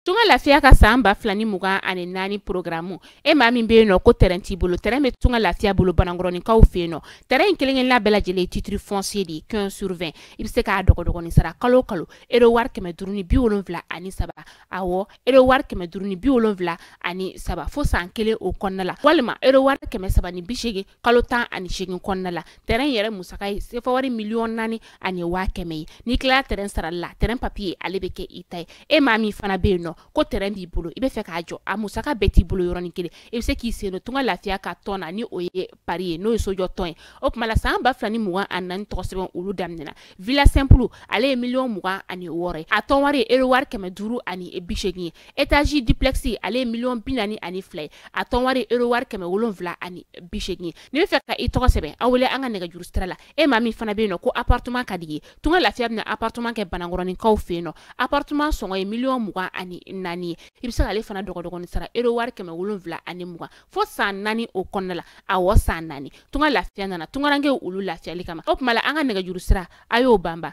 tunga lafiya ka saan ba fila ni mugan ani naani porogaramu e maa min be yen nɔ ko tɛrɛn t'i bolo tɛrɛn be tunga lafiya bolo banankɔrɔninkaw fe yen nɔ tɛrɛn in kelenkelenna bɛɛ lajɛlen titiri fɔnsiye de ye quinze sur vingt i be se k'a dɔgɔdɔgɔnin sara kalo kalo ero wari kɛmɛ duru ni bi wolonfila ani saba awɔ ero wari kɛmɛ duru ni bi wolonfila ani saba fo saan kelen o kɔnɔna la walima ero wari kɛmɛ saba ni bisegin kalo tan ani segin kɔnɔna la tɛrɛn yɛrɛ musaka ye sefa wari miliyɔn naani ani waa kɛmɛ ye n'i tilala tɛrɛn sarali la tɛrɛn papiye ale bɛ kɛ i ta ye e maa min fana bɛ yen nɔ ko tɛrɛn b'i bolo i bɛ fɛ k'a jɔ a musaka bɛɛ t'i bolo yɔrɔnin kelen i bɛ se k'i sen don tunga lafiya ka tɔn na ni o ye pari ye n'o ye sojɔ tɔn ye o tuma la san ba fila ni mugan ani naani tɔgɔ sɛbɛn olu daminɛna villa simple ale ye miliyɔn mugan ani wɔɔrɔ ye a tɔn wari ye ero wari kɛmɛ duuru ani bi seegin ye Etage duplex ale ye miliyɔn bi naani ani fila ye a tɔn wari ero wari kɛmɛ wolonwula ani bisegin ye n'i bɛ fɛ ka i tɔgɔ sɛbɛn aw wele an ka nɛgɛjuru sira la e maa min fana bɛ yen nɔ ko appartement ka di i ye tunga lafiya bɛna appartement kɛ banankɔrɔninkaw fɛ yen nɔ appartement sɔngɔ ye miliyɔn mugan ani naani ye i bɛ se ale fana dɔgɔdɔgɔnin sara ero wari kɛmɛ wolonwula ani mugan fo san naani o kɔnɔna la awɔ san naani tunga lafiya nana tungarankɛ olu lafiyali kama o tuma an ka nɛgɛjuru sira a y'o banba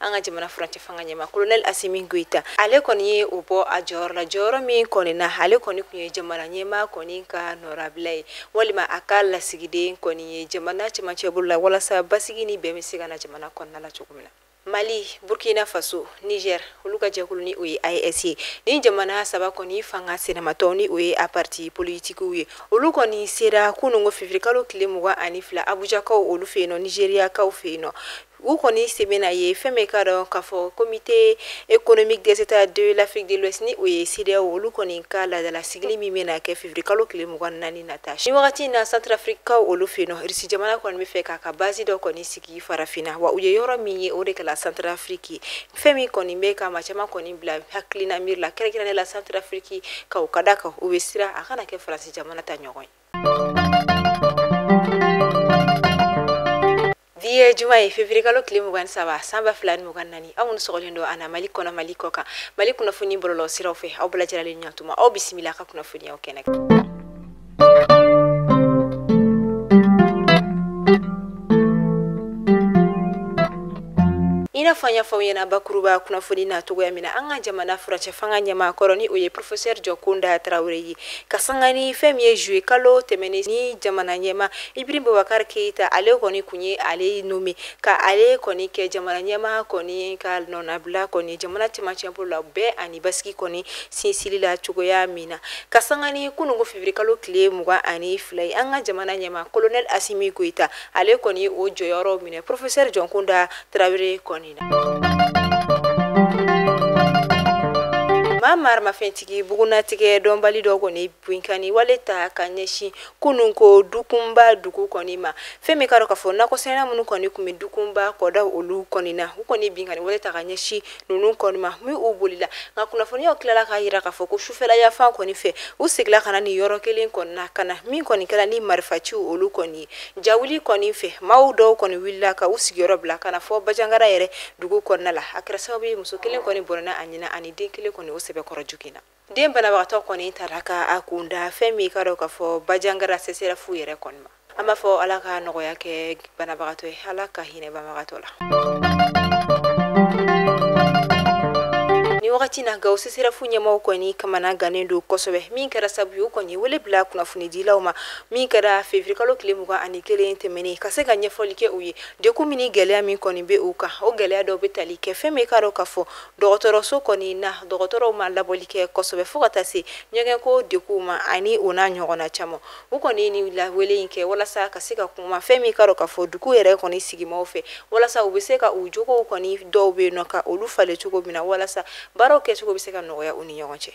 an ka jamana furancɛ fanga ɲɛma kolonɛli asimi goyita ale kɔni ye o bɔ a jɔyɔrɔ la jɔyɔrɔ min kɔni na ale kɔni tun ye jamana ɲɛma kɔni ka nɔrabila ye walima a ka lasigiden kɔni ye jamana cɛmancɛ bolo la walasa basigi ni bɛn bɛ se ka na jamana kɔnɔna la cogo min na mali burkina faso niger olu ka jɛkulu ni o ye AES ye ni jamana saba kɔni fanga sinamatɔn ni o ye a parti politikiw ye olu kɔni sera kunungo fevirikalo tile mugan ani fila abujakaw olu fɛ yen nɔ nizeriyakaw fɛ yen nɔ u kɔni sen bɛna ye fɛn min bɛ ka dɔn k'a fɔ comité économique des états de l'afrique de l'ouest ni o ye sedeyaw olu kɔni ka laadala sigili min bɛna kɛ fevirikalo kile mugan naani nata ni wagati na santrafrikikaw olu fɛ yen nɔ irisi jamana kɔni bɛ fɛ k'a ka bazi dɔ kɔni sigi farafina wa u ye yɔrɔ min ye o de kɛla santrafriki fɛn min kɔni bɛ ka maa caman kɔni bila hakilina miiri la kɛrɛnkɛrɛnnen la santrafrikikaw ka da a kan u bɛ siran a kana kɛ faransi jamana ta ɲɔgɔn ye bi ye juma ye fevirikalo tile mugan saba san ba fila ni mugan nani aw minnu sɔgɔlen don an na mali kɔnɔ mali kɔ kan mali kunnafoni bɔlɔlɔ siraw fɛ aw bɛɛ lajɛlen ɲatuma aw bisimila ka kunnafoniw kɛnɛ i n'a fɔ an y'a fɔ aw ɲɛ na bakuruba kunnafoni na cogoya min na an ka jamana furancɛ fanga ɲɛmaa kɔrɔ ni o ye professeur jɔnkunda tarawele ye ka sanga ni fɛn min ye juillet kalo tɛmɛnen ni jamana ɲɛma Ibrahim Bubakari Keyita ale kɔni tun ye ale nɔme ka ale kɔni kɛ jamana ɲɛmaa kɔni ka nɔnabila kɔni jamana cɛmancɛbolo la bɛn ani basigi kɔni sinsili la cogoya min na ka sanga ni kunun ko fevirikalo tile mugan ani fila ye an ka jamana ɲɛmaa kolonɛli Asimi Goyita ale kɔni o jɔyɔrɔ minɛ porofesɛri Jɔnkunda Tarawele kɔni na maa maramafɛntigi bugunatigɛ dɔnbali dɔ kɔni binkanni wale ta ka ɲɛsin kunun ko dukunba dugu kɔni ma fɛn min ka dɔn k'a fɔ nakɔsɛnɛla minnu kɔni tun bɛ dukunba kɔda olu kɔni na u kɔni binkanni wale ta ka ɲɛsin ninnu kɔni ma min u bolila nka kunnafoniw tilala k'a jira k'a fɔ ko sufɛla yanfan kɔni fɛ u seginna ka na nin yɔrɔ kelen kɔni na ka na min kɔni kɛra ni marifaciw olu kɔni ye jawuli kɔni fɛ maaw dɔw kɔni wulila ka u sigiyɔrɔ bila ka na fo bajangara yɛrɛ dugu kɔnɔna la a kɛra sababu ye muso kelen kɔni bɔnɛna a ni na ani den kelen kɔni o sɛbɛkɔrɔ joginna den banabagatɔ kɔni tara ka a kunda fɛn min ka dɔ ka fɔ bajangara seserɛfu yɛrɛ kɔni ma an b'a fɔ ala ka nɔgɔya kɛ banabagatɔ ye ala ka hinɛ banabagatɔ la ni wagati na gaw seserɛfu ɲɛmaaw kɔni kamanagannen don kosɛbɛ min kɛra sabu ye u kɔni wele bila kunnafonidilaw ma min kɛra fevirikalo tile mugan ani kelen tɛmɛnen ka se ka ɲɛfɔli kɛ u ye degun min ni gɛlɛya min kɔni be u kan o gɛlɛya dɔw be tali kɛ fɛn min k'a dɔ ka fɔ dɔgɔtɔrɔso kɔni na dɔgɔtɔrɔw ma labɔli kɛ kosɛbɛ fo ka taa se ɲɛgɛnko degunw ma ani o n'a ɲɔgɔnna caman u kɔni ni lawele in kɛ walasa ka se ka kuma fɛn min ka dɔ k'a fɔ dugu yɛrɛ kɔni sigimaw fɛ walasa u bɛ se ka u jogow kɔni dɔw bɛ yen nɔ ka olu falen cogo min na walasa baaraw kɛcogo bɛ se ka nɔgɔya u ni ɲɔgɔn cɛ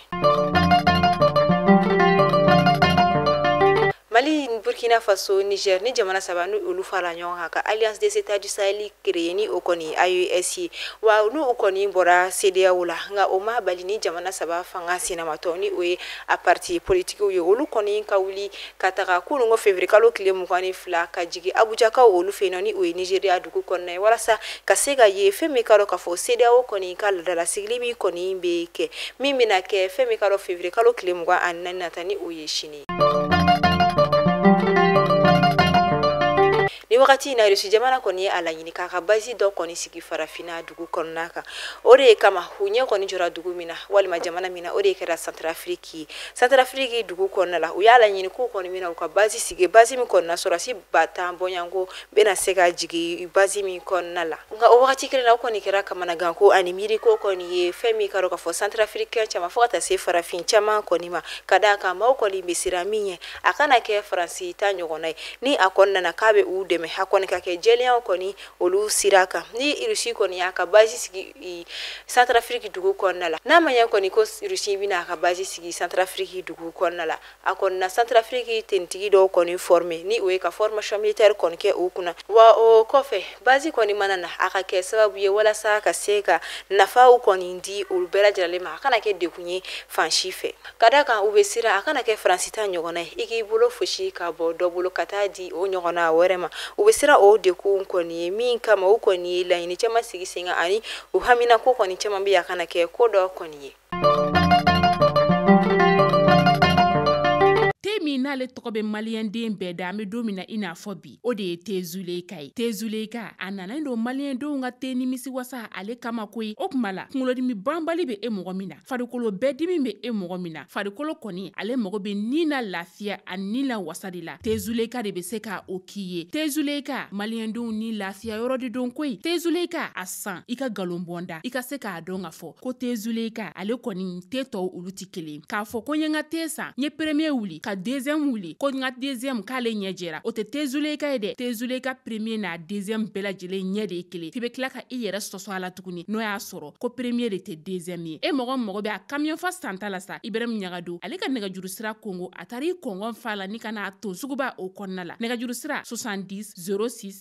mali burkina faso niger ni jamana saba ni olu fara ɲɔgɔn kan ka alliance des états du sahel créer ni o kɔni aes ye wa n'u o kɔni bɔra cedeao la nka o ma bali ni jamana saba fanga sinamatɔn ni o ye a parti politikiw ye olu kɔni ka wuli ka taga kunun ko fevrier kalo tile mugan ni fila ka jigi abujakaw olu fɛ yen nɔ ni o ye nigeria dugu kɔnɔna ye walasa ka se ka ye fɛn min ka dɔ k'a fɔ cedeao kɔni ka ladalasigili min kɔni bɛ kɛ min bɛna kɛ fɛn min ka dɔ fevrier kalo tile mugan ani naani nata ni o ye sini ni wagati in na irisi jamana kɔni ye a laɲini k'a ka basi dɔ kɔni sigi farafina dugu kɔnɔna kan o de ye kama u ɲɛ kɔni jɔra dugu min na walima jamana min na o de kɛra santarafiriki ye santarafiriki dugu kɔnɔna la u y'a laɲini k'u kɔni bɛna u ka basi sigi basi min kɔnɔna sɔrɔdasi ba tan bɔɲɔgɔnko bɛna se ka jigin basi min kɔnɔna la nka o wagati kelen na o kɔni kɛra kamanagan ko ani miiri ko kɔni ye fɛn min ka dɔn k'a fɔ santarafirikɛn caman fo ka taa se farafin caman kɔni ma ka d'a kan maaw kɔni bɛ siran min ɲɛ a kana kɛ faransi ta ɲɔgɔnna ye ni a kɔni nana k'a bɛ u dɛmɛ a kɔni ka kɛ jɛlenyaw kɔni olu sira kan ni irisi kɔni y'a ka basi sigi santarafiriki dugu kɔnɔna la n'a ma ɲɛ kɔni ko irisi bɛna a ka basi sigi santarafiriki dugu kɔnɔna la a kɔni na santarafiriki finitigi dɔw kɔni former ni o ye ka formation militaire kɔni kɛ u kunna wa o kɔfɛ bazi kɔni mana na a ka kɛ sababu ye walasa ka se ka nafaw kɔni di olu bɛɛ lajɛlen ma a kana kɛ degun ye fan si fɛ ka d'a kan u bɛ siran a kana kɛ faransi ta ɲɔgɔnna ye i k'i bolo fosi ka bɔ dɔ bolo ka taa di o ɲɔgɔnna wɛrɛ ma u bɛ siran o degun kɔni ye min kama u kɔni ye laɲini caman sigi sen kan ani u haminako kɔni caman bɛ a kana kɛ ko dɔ kɔni ye min n'ale tɔgɔ bɛ maliyɛnden bɛɛ da an bɛ don min na i n'a fɔ bi o de ye te zuleyika ye te zuleyika a nanen don maliyɛndenw ka te nimisi wasa ale kama koyi o kuma la kunkolodimi banbali bɛ e mɔgɔ min na farikolo bɛɛ dimi bɛ e mɔgɔ min na farikolo kɔni ale mago bɛ ni na lafiya ani ni la wasa de la te zuleyika de bɛ se ka o k'i ye te zuleyika maliyɛndenw ni lafiya yɔrɔ de don koyi te zuleyika a san i ka nkalon bɔ n da i ka se k'a dɔn ka fɔ ko te zuleyika ale kɔni te tɔw olu tɛ kelen k'a fɔ ko n ye n ka te san n ye premier wuli ka deuxième wuli ko n ka deuxième k'ale ɲɛ jɛra o tɛ te zuleyika ye dɛ te zuleyika premier n'a deuxième bɛɛ lajɛlen ɲɛ de ye kelen f'i bɛ tila ka i yɛrɛ sɔsɔ a la tuguni n'o y'a sɔrɔ ko premier de tɛ deuxième ye e mɔgɔ mago bɛ a kamiyɔn fa santa la sa ibrahimu ɲangadu ale ka nɛgɛjuru sira kongo a taara i kɔngɔn fa la ni ka n'a ton suguba o kɔnɔna la nɛgɛjuru sira 70 06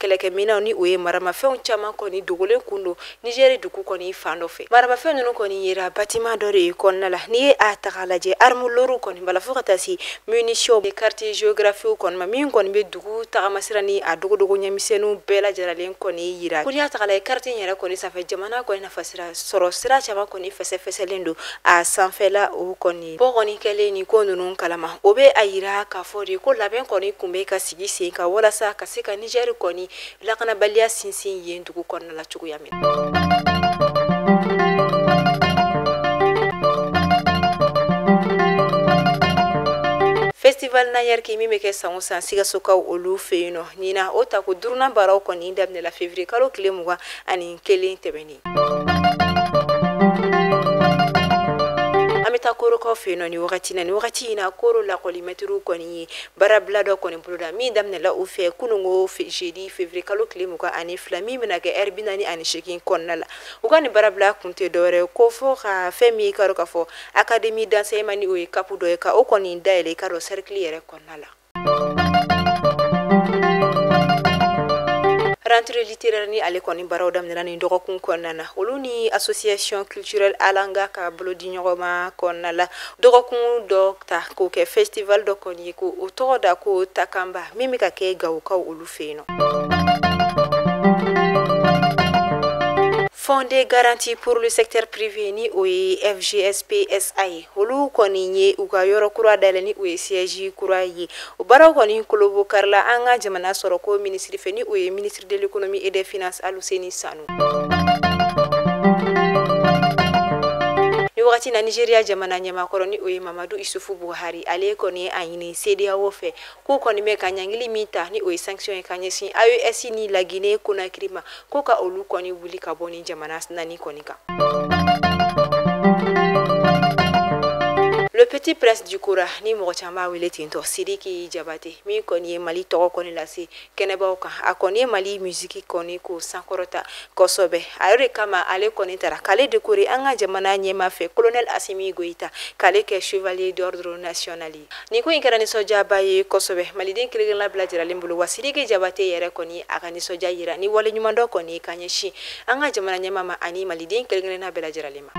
kɛlɛkɛminɛnw ni o ye maramafɛnw caman kɔni dogolen kun don nizɛri dugu kɔni fan dɔ fɛ maramafɛn ninnu kɔni yera batiman dɔ de kɔnɔna la n'i ye a ta k'a lajɛ armes lourdes kɔni b'a la fo ka taa se munitions cartes géographiques kɔni ma min kɔni bɛ dugu tagamasira ni a dogodogo ɲɛmisɛnninw bɛɛ lajɛlen kɔni yira ko n'i y'a ta k'a lajɛ kariti in yɛrɛ kɔni sanfɛ jamana kɔni nafasira sɔrɔ sira caman kɔni fɛsɛfɛsɛlen don a sanfɛla o kɔni bɔ kɔni kɛlen nin ko ninnu kalama o bɛ a yira k'a fɔ de ko labɛn kɔni kun bɛ ka sigi sen kan walasa ka se ka nizɛri kɔni lakanabaliya sinsin yen dugu kɔnɔna la cogoya min festival Nangnerki min bɛ kɛ san o san sikasokaw olu fɛ yen nɔ ɲina o tako duurunan baaraw kɔni daminɛla février kalo tile mugan ani kelen tɛmɛnen An bɛ taa korokaw fɛ yen nɔ ni wagati na ni wagati in na koro lakɔlimɛtiriw kɔni ye baarabila dɔ kɔni boloda min daminɛla u fɛ kunungo jeudi février kalo tile mugan ani fila min bɛna kɛ heure bi naani ani segin kɔnɔna la u ka nin baarabila kun tɛ dɔwɛrɛ kɔ fo ka fɛn min i k'a dɔn k'a fɔ académie d'enseignement ni o ye CAP dɔ ye ka o kɔni dayɛlɛn i k'a dɔn sɛrikili yɛrɛ kɔnɔna la Rentrée littéraire ni ale kɔni baaraw daminɛna nin dɔgɔkun kɔnɔna na olu ni association culturelle Alanga ka bolodiɲɔgɔnma kɔnɔna la dɔgɔkun dɔ ta k'o kɛ festival dɔ kɔni ye ko o tɔgɔ da ko Takamba min bɛ ka kɛ Gawokaw olu fɛ yen nɔ Fonds de garantie pour le secteur privé ni o ye FGSP SA ye olu kɔni ye u ka yɔrɔ kura dayɛlɛ ni o ye siège kura ye o baaraw kɔni kolobo karila an ka jamana sɔrɔ ko minisiri fɛ ni o ye ministre de l'économie et des finances Aluseni Sanu ni wagati na Nigeria jamana ɲɛmaakɔrɔ ni o ye Mamadu Isufu Buhari ale kɔni ye a ɲini CEDEAO fɛ k'u kɔni bɛ ka ɲangili min ta ni o ye sanction ye ka ɲɛsin aes ni lagine konakiri ma k'u ka olu kɔni wuli ka bɔ ni jamana naani kɔni kan le petit prince du kora ni mɔgɔ caman b'a wele ten tɔ sidiki jabate min kɔni ye mali tɔgɔ kɔni lase kɛnɛbaw kan a kɔni ye mali musiki kɔni ko sankɔrɔta kosɛbɛ a yɛrɛ de kama ale kɔni tara k'ale dekore an ka jamana ɲɛmaa fɛ colonel asimi goyita k'ale kɛ chevalier d'ordre national nin ko in kɛra nisɔndiyaba ye kosɛbɛ maliden kelenkelenna bɛɛ lajɛralen bolo wa sidiki jabate yɛrɛ kɔni a ka nisɔndiya yira ni waleɲumandɔn kɔni ka ɲɛsin an ka jamana ɲɛmaa ma ani maliden kelenkelenna bɛɛ lajɛralen ma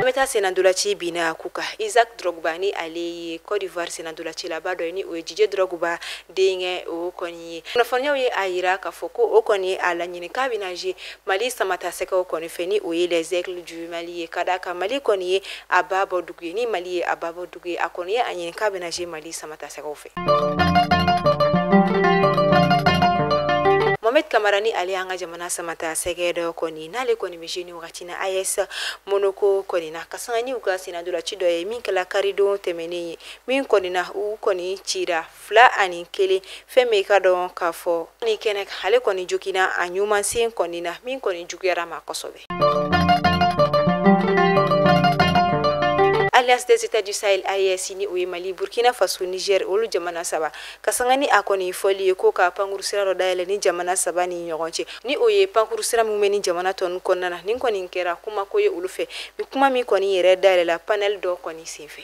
an bɛ taa senandolaci bin na ku kan isaac drogba ni ale ye cote d'ivoire senandolacilaba dɔ ye ni o ye didier drogba denkɛ o kɔni ye kunnafoniyaw ye a yira k'a fɔ ko o kɔni ye a laɲini k'a bɛna jouer mali samatasɛgɛw kɔni fɛ ni o ye les aigles du mali ye ka d'a kan mali kɔni ye a ba bɔ dugu ye ni mali ye a ba bɔ dugu ye a kɔni ye a ɲini k'a bɛna jouer mali samatasɛgɛw fɛ mohamed kamara ni ale y'an ka jamana samatasɛgɛ dɔ kɔni n'ale kɔni bɛ jouer ni wagati na as monaco kɔni na ka sanga ni u ka senandolaci dɔ ye min kɛla karidon tɛmɛnen ye min kɔni na u kɔni cira fila ani kelen fɛn min ka dɔn k'a fɔ ni kɛnɛ ale kɔni jogina a ɲumansen kɔni na min kɔni juguyara a ma kosɛbɛ alliance des états du sahel AES ni o ye mali burkina faso niger olu jamana saba ka sanga ni a kɔni fɔli ye ko ka pankuru sira dɔ dayɛlɛ ni jamana saba ni ɲɔgɔn cɛ ni o ye pankuru sira min bɛ ni jamana tɔn kɔnɔna na nin kɔni kɛra kuma ko ye olu fɛ ni kuma min kɔni yɛrɛ dayɛlɛla panɛli dɔ kɔni senfɛ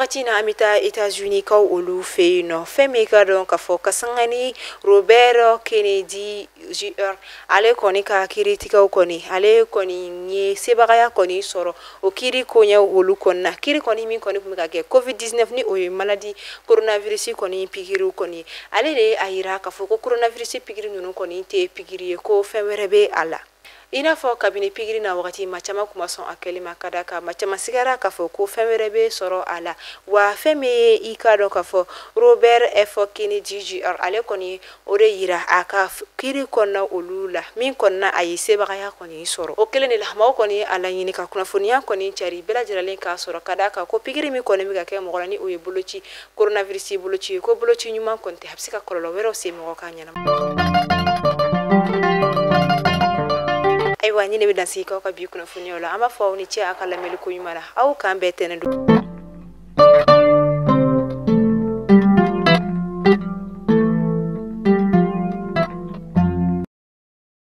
wagati na an bɛ taa États-Unis kaw olu fɛ yen nɔ fɛn min ka dɔn k'a fɔ ka sanga ni Robert Kennedy Jr ale kɔni ka kiiritigɛw kɔni ale kɔni ye sebagaya kɔni sɔrɔ o kiiri koɲɛw olu kɔni na kiiri kɔni min kɔni tun bɛ ka kɛ covid 19 ni o ye maladie coronavirus kɔni pikiriw kɔni ale de ye a yira k'a fɔ ko coronavirus pikiri ninnu kɔni tɛ pikiri ye ko fɛn wɛrɛ bɛ a la i n'a fɔ kabini pikiri na wagati maa caman kun ma sɔn a kɛli ma ka d'a kan maa caman sigara k'a fɔ ko fɛn wɛrɛ bɛ sɔrɔ a la wa fɛn min ye i ka dɔn k'a fɔ robert f kennedy jr ale kɔni ye o de yira a ka kiiri kɔnɔna olu la min kɔnɔna a ye sebagaya kɔni sɔrɔ o kelen de la maaw kɔni ye a laɲini ka kunnafoniya kɔni cari bɛɛ lajɛralen k'a sɔrɔ ka da kan ko pikiri min kɔni bɛ ka kɛ mɔgɔ la ni o ye boloci coronavirus boloci ye ko boloci ɲuman kɔni tɛ a bɛ se ka kɔlɔlɔ wɛrɛw se mɔgɔ ka ɲɛnama ayiwa nin ne bɛ dan sigi k'aw ka bi kunnafoniw la an b'a fɔ aw ni ce a ka lamɛnni ko ɲuman na aw k'an bɛn tɛnɛn don